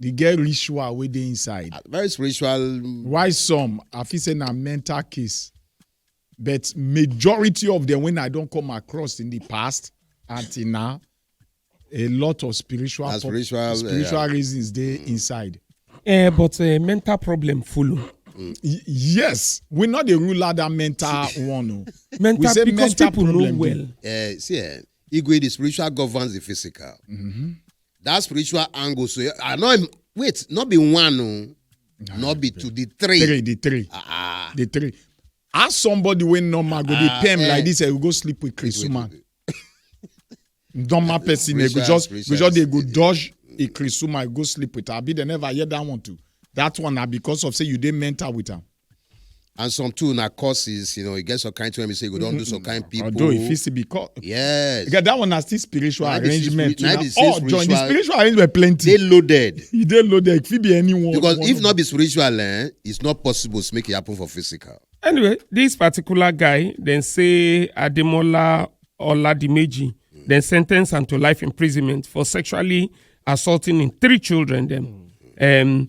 They get ritual wey dey inside. Ah, very spiritual. Mm. Why some? I feel say na mental case, but majority of them when I don't come across in the past until now, a lot of spiritual pop, spiritual, spiritual uh, reasons they mm. inside. Uh, but uh, mental problem full. Mm. yes, we not the rule out that mental one. No. Oh. mental we say because mental people problem know well. Uh, see, uh, Igwe, the spiritual governs the physical. Mm -hmm. that spiritual angle so i know him wait not be one no nah, not be two the three three the three ah, ah. the three as somebody wey normal go dey ah, pay him eh. like this eh, we go sleep with chris woman normal person eh, go just go just dey go dodge a chris woman go sleep with her abi they never hear that one too that one na because of say you dey mental with am. and some too na courses you know e get some kind thing wey be say you go don do some kind people. although e fit still be course. yes. Yeah, that one na still spiritual na arrangement too na all join the spiritual arrangement plenty. dey loaded. e dey loaded e fit be anyone. because one if not be spiritual eh, it's not possible to make it happen for physical. anyway this particular guy dem say ademola oladimeji mm. dem sen ten ce am to life imprisonment for sexually assaulting im three children dem. Mm. Um,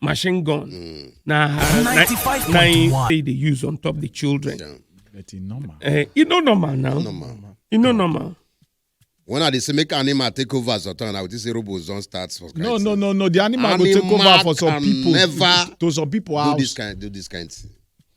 machine gun mm. na her na, na him say dey use on top the children. Yeah. but e normal. Uh, e no normal now. normal. e no normal. when i dey say make animal take over as authority i go think say robots don start for. no no no no the animal, animal go take over for some people never to some people house. do this kind do this kind thing.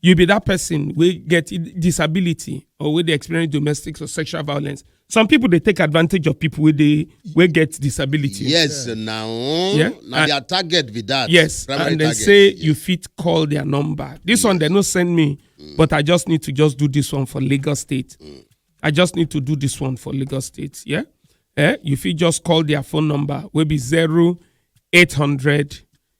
you be that person wey get i- disability or wey dey experience domestic or sexual violence some people dey take advantage of people wey dey wey get disability. yes now Yeah. na And- their target be that yes primary and they target. say you fit call their number this one they no send me but i just need to just do this one for lagos state i just need to do this one for lagos state yeah eh you fit just call their phone number wey be zero eight hundred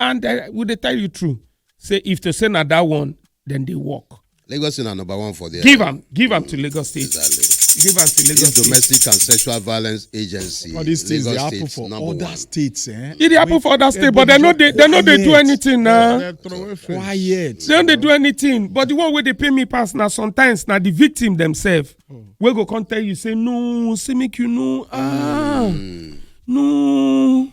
and uh, we dey tell you true say if to say na that one then they work. lagos state na number one for there. give am give am to lagos state. exactly. give am to lagos state. domestic and sexual violence agency. all these things dey happen for other one. states. Eh? e dey happen for other states but they no dey they no dey do anything na. Uh, quiet. they no dey do anything but the one wey dey pay me pass na sometimes na the victim themselves oh. wey go come tell you say no say make you know ah mm. no.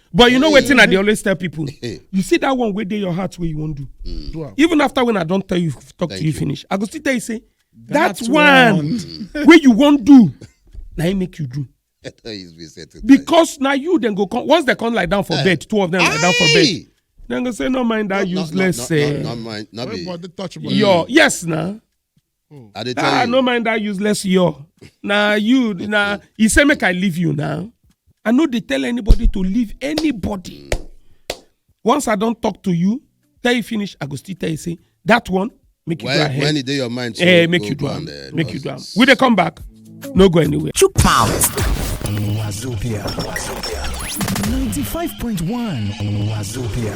but you know wetin i dey always tell people you see that one wey dey your heart wey you wan do mm. even after when i don tell you talk to you finish i go still tell you say that one wey you wan do na im make you do because na you dem go come once dem come lie down for eh. bed two of them lie down for bed dem go say no mind that useless eh your yes na Hmm. I dey tell ah, you. I no mind that useless yo. Now you now he say make I leave you now. I know they tell anybody to leave anybody. Once I don't talk to you, tell you finish, I go still tell you say that one make you when, do ahead. When it dey your mind, so eh, make you do am. Eh, make you do am. We dey come back. No go anywhere. Two pounds. Wazobia. Wazobia. 95.1 Wazobia.